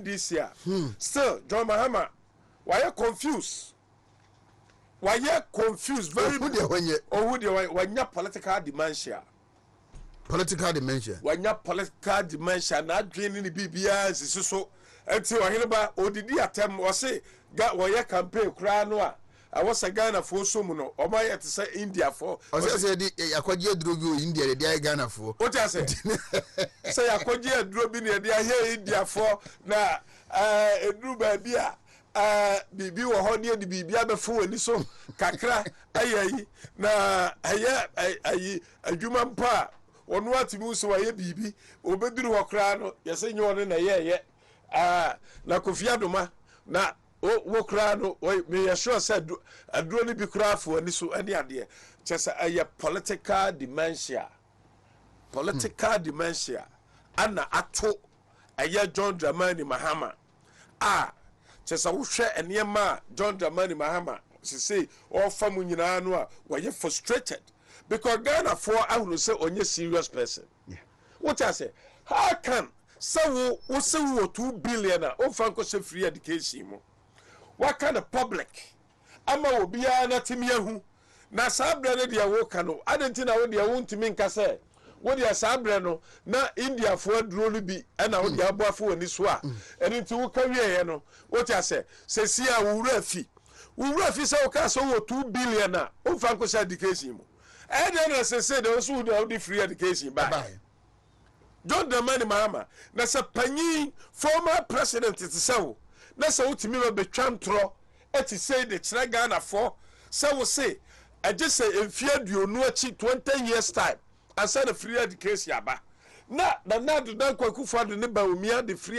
ndc a still John Mahama wayɛ confuse wayɛ confuse very ohu deɛ wɔnyɛ ohu deɛ wɔnyɛ wanya political dementia political dementia wanya political dementia na adwene ne ne biribiara nsisi so nti ɔheneba odidi atɛm ɔse ga wɔyɛ campaign koraa no a Ɛwɔ sɛ Ghana foɔ sɔ mu no ɔmo ayɛ te sɛ India foɔ. Ɔsɛ sɛ yɛde yakɔgye aduro bi wɔ India yɛde ayɛ Ghana foɔ. Wote aseɛ? Sɛ yakɔgye aduro bi na yɛde ayɛ India foɔ na ɛɛ eduru baabi a ɛɛ biribi wɔ hɔ ne yɛde biribi abɛfo wɔn ani so kakra ayɛ ayi na ɛyɛ ayi adwuma mpo a ɔno atumi hu sɛ wayɛ biribi ɔbɛduru hɔ koraa no yɛsɛ nyɛ ɔno na ɛyɛɛyɛ ɛɛ na Kofi Adoma na O, wo koraa no, meyɛ sure sɛ aduro no bi koraa afi w'ani so ne adeɛ. Kyerɛ sɛ ɛyɛ political dementia. Political dementia ana ato ɛyɛ John Dramani Mahama a kyerɛ sɛ wohwɛ nneɛma a John Dramani Mahama sesei ɔrefa mu nyinaa no a wɔyɛ frustrated because Ghanafoɔ ahunu sɛ ɔnyɛ serious person. Wote ase? How come sɛ wo wo se wowɔ two billion a womfa nkɔhyɛ free education mu? Woaka no public ama obiara no atumi ahu. Na saa berɛ no deɛ woka no, adɛn nti na wo deɛ wontumi nka sɛ wo deɛ saa berɛ no na Indiafoɔ aduro no bi na wo deɛ abɔ afa w'ani so a ɛno nti woka wieeɛ no? Wote ase? Seesei a wo werɛ afi. Wo werɛ afi sɛ wokaa sɛ wowɔ two billion a womfa nkɔhyɛ education mu. Ɛdɛn na ɛsɛ sɛ deɛ ɔso na ɔde free education bae? John Dramani Mahama, na sɛ panyin former president te sɛ wo na sɛ wotumi ma bɛtwa ntorɔ te sei de kyerɛ Ghanafoɔ sɛ wo se ɛgye sɛ mfeɛ aduonu akyi, 20 years time, ansa na free education aba. Na Nana Ado Dankwa Akufo-Addo ne Bawumia de free